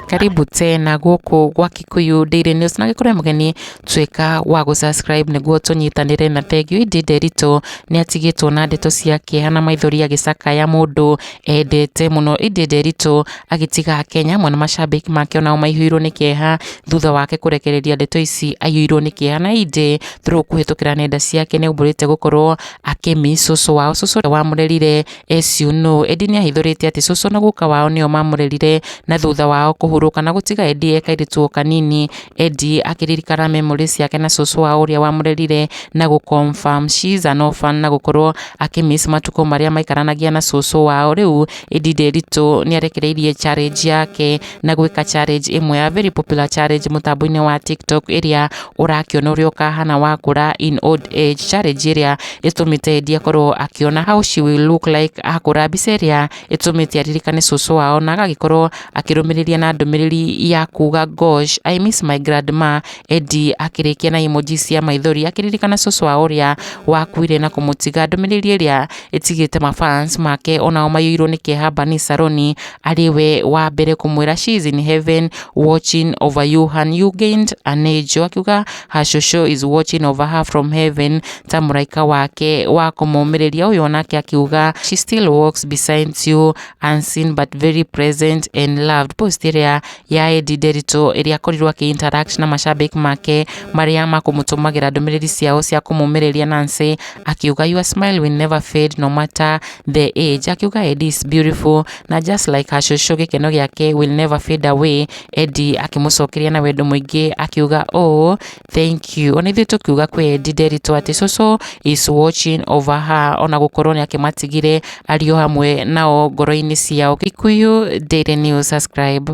karibu tena gũkũ gwa Kikuyu Daily News na gĩkũrĩa mũgeni tuĩka wa gũ subscribe nĩguo tũnyitanĩre na Tengio Indi Nderitu nĩ atigĩtwo na ndeto cia kĩeha na maithori agĩcakaya mũndũ endete mũno Indi Nderitu agĩtiga Kenya amwe na macambĩki make onao maihũirwo nĩ kĩeha thutha wake kũrekereria ndeto ici aiyũirwo nĩ kĩeha na Indi through kũhĩtũkĩra nenda ciake nĩ aumbũrĩte gũkorwo akĩ miss cũcũ wao, cũcũ ũrĩa wamũrerire as you know. Ĩndĩ nĩ ahithũrĩte atĩ cũcũ na guka wao nĩo mamũrerire na thutha wao kũhurũka na gũtiga Eddie e kairĩtu o kanini, Eddie akĩririkana memories ciake na cũcũ wao ũrĩa wamũrerire na gũ confirm she is an orphan na gũkorwo akĩ miss matukũ marĩa maikaranagia na cũcũ wao. Rĩu Eddie Nderitu nĩ arekereirie challenge yake. na gwĩka challenge ĩmwe ya very popular challenge mũtambo-inĩ wa tiktok ĩrĩa ũrakĩona ũrĩa ũkahana wakũra in old age challenge ĩrĩa ĩtũmĩte endi akorwo akĩona how she will look like akũra mbica ĩrĩa ĩtũmĩte aririkane cũcũ wao na agagĩkorwo akĩrũmĩrĩria na ndũmĩrĩri ya kuga gosh i miss my grandma endi akĩrĩkia na emoji cia maithori akĩririkana cũcũ wao ũrĩa wakuire na kũmũtiga ndũmĩrĩri ĩrĩa ĩtigĩte mafans make onao maiyũirwo nĩ kĩeha Bani Saroni arĩ we wa mbere kũmwĩra she is in heaven watching over you and you gained an angel akiuga her shosho is watching over her from heaven ta mũraika wake wa kũmũmĩrĩria ũyũ nake akiuga she still walks beside you unseen but very present and loved post ĩrĩa ya Eddie Nderitu ĩrĩa akorirwo akĩ interact na mashabĩki make marĩa makũmũtũmagĩra ndũmĩrĩri ciao cia kũmũmĩrĩria Nancy akiuga your smile will never fade no matter the age akiuga Eddie is beautiful na just like her shushu gĩkeno gĩake will never fade away Eddie akĩmũcokeria na wendo mũingĩ akiuga ũũ thank you ona ithuĩ tũkiuga kwĩ Eddie Nderitu atĩ shushu is watching over her ona gũkorwo nĩ akĩmatigire ariũ hamwe nao ngoro-inĩ ciao Gikuyu Daily News subscribe